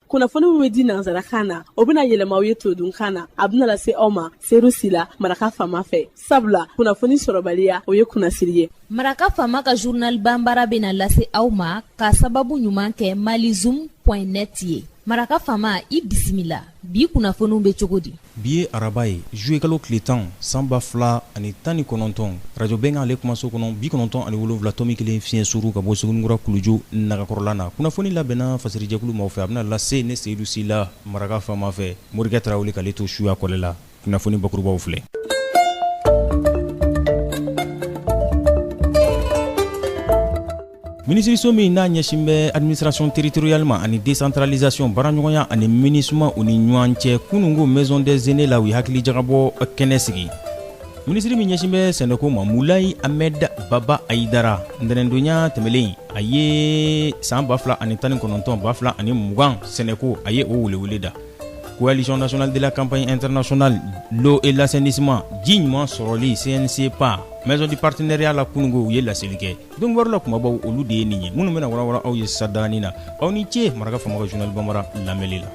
kunnafoni min bɛ di nansarakan na o bɛna yɛlɛma aw ye todunkan na a bɛna lase aw ma seyidu sila maraka fama fɛ sabula kunnafoni sɔrɔbaliya o ye kunnasiri ye maraka fama ka journal bambara bɛna lase aw ma ka sababu ɲuman kɛ malizoom net ye maraka fama i bisimila bi kunnafoniw bɛ cogo di Bi ye araba ye zuwekalo tile tan san ba fila ani tan ni kɔnɔntɔn arajo benkan ale kumaso kɔnɔ bi kɔnɔntɔn ani wolonwula tɔmi kelen fiɲɛ suru ka bɔ suguninkura kuluju nagakɔrɔla na kunnafoni labɛnna fasirijɛkulu maaw fɛ a bɛna lase ne seyidu sila maraka fama fɛ morikɛ tarawele k'ale to suya kɔlɛ la kunnafoni bakurubaw filɛ minisiriso min n'a ɲɛsin bɛ administration territoriale ma ani décentralisation baaraɲɔgɔnya ani minusma u ni ɲɔgɔn cɛ kunungo maison des aînés la u ye hakilijagabɔ kɛnɛ sigi minisiri min ɲɛsin bɛ sɛnɛko ma mulayi ahmed baba ayidara ntɛnɛndonya tɛmɛlen a ye san ba fila ani tan ni kɔnɔntɔn ba fila ani mugan sɛnɛko a ye o welewele da coalition nationale de la campagne internationale l'eau et l'assainissement ji ɲuman sɔrɔli cn-ciepa maison du partenariat la kunungo u ye laseli kɛ don wɛrɛla kumabaw olu de ye nin ye minnu bɛna warawara aw ye sadanin na aw ni ce maraka fama ka journal bambara lamɛnli la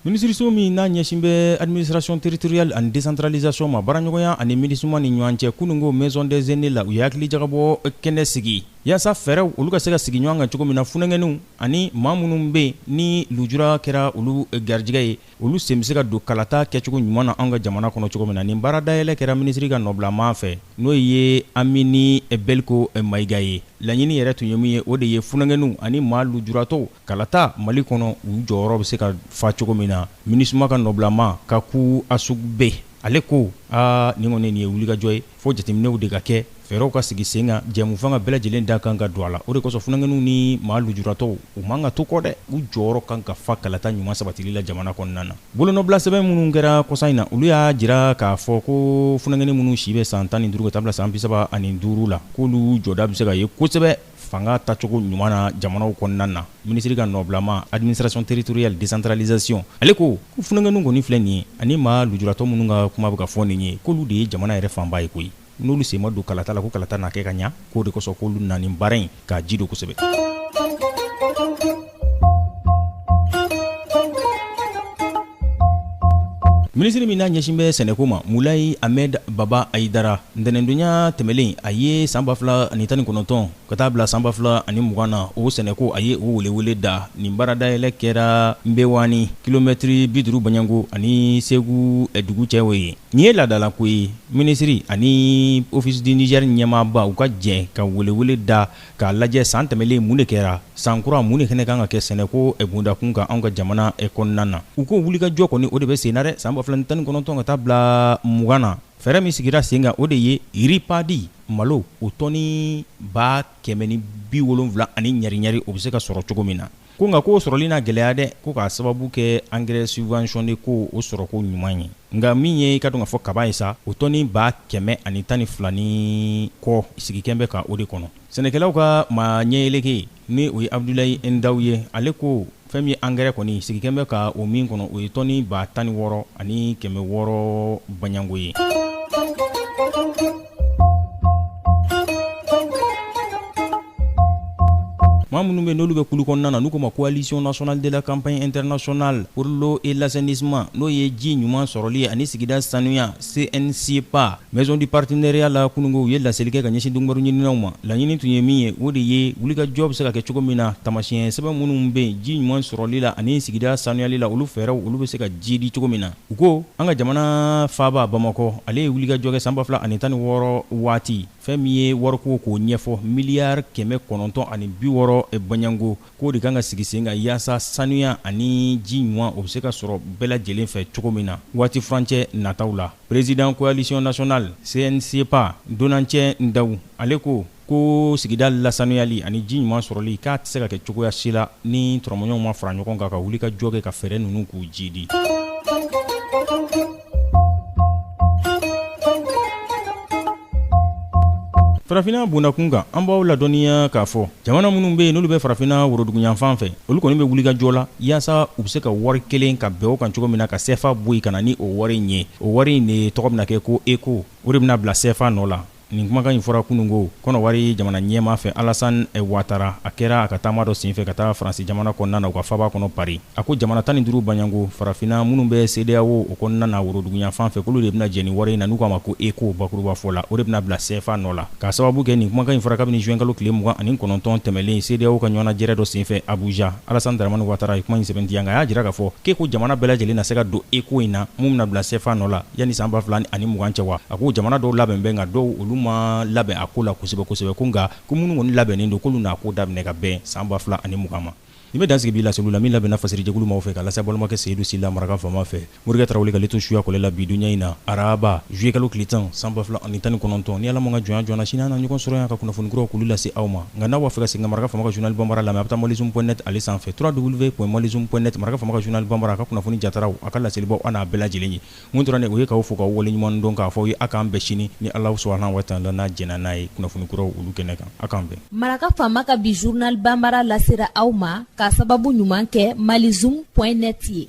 minisiriso min n'a ɲɛsin bɛ administration territoriale ani décentralisation ma baaraɲɔgɔnya ani minusma ni ɲɔgɔn cɛ kunungo maison des aînés la u ye hakili jagabɔ kɛnɛ sigi yaasa fɛɛrɛw olu ka se ka sigi ɲɔgɔn kan cogo min na funankɛninw ani maa minnu bɛ yen ni lujura kɛra olu garijɛgɛ ye olu sen bɛ se ka don kalata kɛcogo ɲuman na an ka jamana kɔnɔ cogo min na nin baara dayɛlɛ kɛra minisiri ka nɔbilaman fɛ n'o ye amini beliko mayiga ye laɲini yɛrɛ tun ye min ye o de ye funankɛninw ani maa lujuratɔw kalata mali kɔnɔ u jɔyɔrɔ bɛ se ka fa cogo min na minusma ka nɔbilaman kacou assoukpe ale ko aa nin kɔni nin ye wulikajɔ ye fo jateminɛw de ka kɛ fɛɛrɛw ka sigi sen kan jɛmufanga bɛɛ lajɛlen da kan ka don a la o de kosɔn funakɛninw ni maa lujuratɔw u man ka to kɔ dɛ u jɔyɔrɔ kan ka fa kalata ɲuman sabatili la jamana kɔnɔna na bolonɔbilasɛbɛn minnu kɛra kɔsa in na olu y'a jira k'a fɔ ko funakɛnin minnu si bɛ san tan ni duuru ka taa bila san bi saba ani duuru la k'olu jɔda bɛ se ka ye kosɛbɛ fanga tacogo ɲuman na jamanaw kɔnɔna na minisiri ka nɔbilama administration territoriale décentralisation ale ko ko funakɛninw kɔni filɛ nin ye ani maa lujuratɔ minnu ka kuma bɛ ka fɔ nin ye k'olu de ye jamana yɛrɛ fanba ye koyi n'olu sen ma don kalata la ko kalata na kɛ ka ɲa k'o de kosɔn k'olu na nin baara in k'a ji don kosɛbɛ Minisiri min n'a ɲɛsin bɛ sɛnɛko ma Mulayi Ahmed Baba Ayidara, ntɛnɛndonya tɛmɛlen a ye san 2019 ka taa bila san 2020 na o sɛnɛko a ye o welewele da nin baaradayɛlɛ kɛra Nbewani kilomɛtɛrɛ 50 bɔɲɔgɔnko ani Segu dugu cɛ o ye nin ye laadalako ye minisiri ani Office du Niger ɲɛmaaba u ka jɛ ka welewele da k'a lajɛ san tɛmɛlen mun de kɛra san kura mun de fɛnɛ kan ka kɛ sɛnɛko bondakun kan anw ka jamana kɔnɔna na u ko wulikajɔ kɔni o de bɛ sen na dɛ san 2019 ka taa bila mugan na fɛɛrɛ min sigira sen kan o de ye riz paddy malo o tɔni ba kɛmɛ ni bi wolonwula ani ɲari-ɲari o bɛ se ka sɔrɔ cogo min na Ko nka k'o sɔrɔli na gɛlɛya dɛ ko k'a sababu kɛ angɛrɛ subventionné ko o sɔrɔko ɲuman ye nka min ye i k'a dɔn k'a fɔ kaba ye sa o tɔni ba kɛmɛ ani tan ni fila ni kɔ sigi kɛlen bɛ ka o de kɔnɔ sɛnɛkɛlaw ka maa ɲɛyeleke ni o ye Abudulayi Ndaw ye ale ko fɛn min ye angɛrɛ kɔni sigi kɛlen bɛ ka o min kɔnɔ o ye tɔni ba tan ni wɔɔrɔ ani kɛmɛ wɔɔrɔ baɲanko ye maa minnu bɛ n'olu bɛ kulu kɔnɔna na n'u k'o ma coalition nationale de la campagne internationale pour l'eau et l'assainissement n'o ye ji ɲuman sɔrɔli ani sigida sanuya CN-CIEPA maison du partenariat la kununko u ye laseli kɛ ka ɲɛsin dunkibaru ɲininaw ma laɲini tun ye min ye o de ye wulikajɔ bɛ se ka kɛ cogo min na taamasiyɛn sɛbɛn minnu bɛ ji ɲuman sɔrɔli la ani sigida sanuyali la olu fɛɛrɛw olu bɛ se ka jiidi cogo min na U ko an ka jamana faaba Bamakɔ ale ye wulikajɔ kɛ san ba fila ani tan ni wɔɔrɔ waati fɛn min ye wariko k'o ɲɛfɔ miliyari kɛmɛ kɔnɔntɔn ani bi wɔɔrɔ bɔɲɔgɔnko k'o de kan ka sigi sen kan yaasa sanuya ani ji ɲuman o bɛ se ka sɔrɔ bɛɛ lajɛlen fɛ cogo min na waati furancɛ nataw la président coalition nationale CN-CIEPA Donancɛ Ndaw ale ko ko sigida lasanuyali ani ji ɲuman sɔrɔli k'a tɛ se ka kɛ cogoya si la ni tɔrɔmɔɲɔgɔnw ma fara ɲɔgɔn kan ka wulikajɔ kɛ ka fɛɛrɛ ninnu k'u jiidi farafinna bondakun kan an b'aw ladɔnniya k'a fɔ jamana minnu bɛ yen n'olu bɛ farafinna woroduguyanfan fɛ olu kɔni bɛ wulikajɔ la yaasa u bɛ se ka wari kelen ka bɛn o kan cogo min na ka sɛfa bɔ yen ka na ni o wari in ye o wari in de tɔgɔ bɛna kɛ ko eko o de bɛna bila sɛfa nɔ la Nin kumakan in fɔra kununko kɔnɔwari jamana ɲɛmaa fɛ alasan watara a kɛra a ka taama dɔ senfɛ ka taa faransi jamana kɔnɔna na u ka faaba kɔnɔ pari a ko jamana tan ni duuru baɲɔgɔnko farafinna minnu bɛ CEDEAO o kɔnɔna na woroduguyanfan fɛ k'olu de bɛna jɛ nin wari in na n'u k'a ma ko eko bakurubafɔ la o de bɛna bila cfa nɔ la k'a sababu kɛ nin kumakan in fɔra kabini zuwɛnkalo tile mugan ani kɔnɔntɔn tɛmɛlen CEDEAO ka ɲɔgɔnnajɛrɛ dɔ senfɛ abuja alasan daramani watara ye kuma in sɛmɛntiya nka a y'a jira k'a fɔ k'eko jamana bɛɛ lajɛlen na se ka don eko in na min bɛna bila cfa nɔ la Yanni san ba fila ani mugan cɛ wa a ko jamana dɔw labɛn bɛ nka dɔw olu ma labɛn a ko la kosɛbɛ kosɛbɛ ko nka ko minnu kɔni labɛnnen don k'olu n'a ko daminɛ ka bɛn san ba fila ani mugan ma nin bɛ dan sigi bi laseli la min labɛnna fasiri jɛkulu maaw fɛ ka lase balimakɛ seyidu sila maraka faama fɛ morikɛ tarawele wuli ka to suya kɔlɛ la bi dunya in na araba zuye kalo tile tan san ba fila ani tan ni kɔnɔntɔn ni ala m'a ka jɔn ye joona sini an na ɲɔgɔn sɔrɔ yan ka kunnafoni kuraw k'olu lase aw ma Nka n'aw b'a fɛ ka segin ka Maraka faama ka journal Banbara lamɛn, a bɛ taa Malizoom point net ale sanfɛ www.malizoom point net Maraka faama ka journal Banbara a ka kunnafoni jataraw, a ka laselibaw, a n'a bɛɛ lajɛlen ye. Min tora ne ye, o ye k'aw fo k'aw waleɲuman dɔn k'a fɔ aw ye, a k'an bɛn sini ni Allahou Soubhana wa Taala n'a jɛnna n'a ye kunnafoni kuraw olu kɛnɛ kan. A k'an bɛn. Maraka faama ka bi journal Banbara lasera aw ma k'a sababu ɲuman kɛ Malizoom point net ye.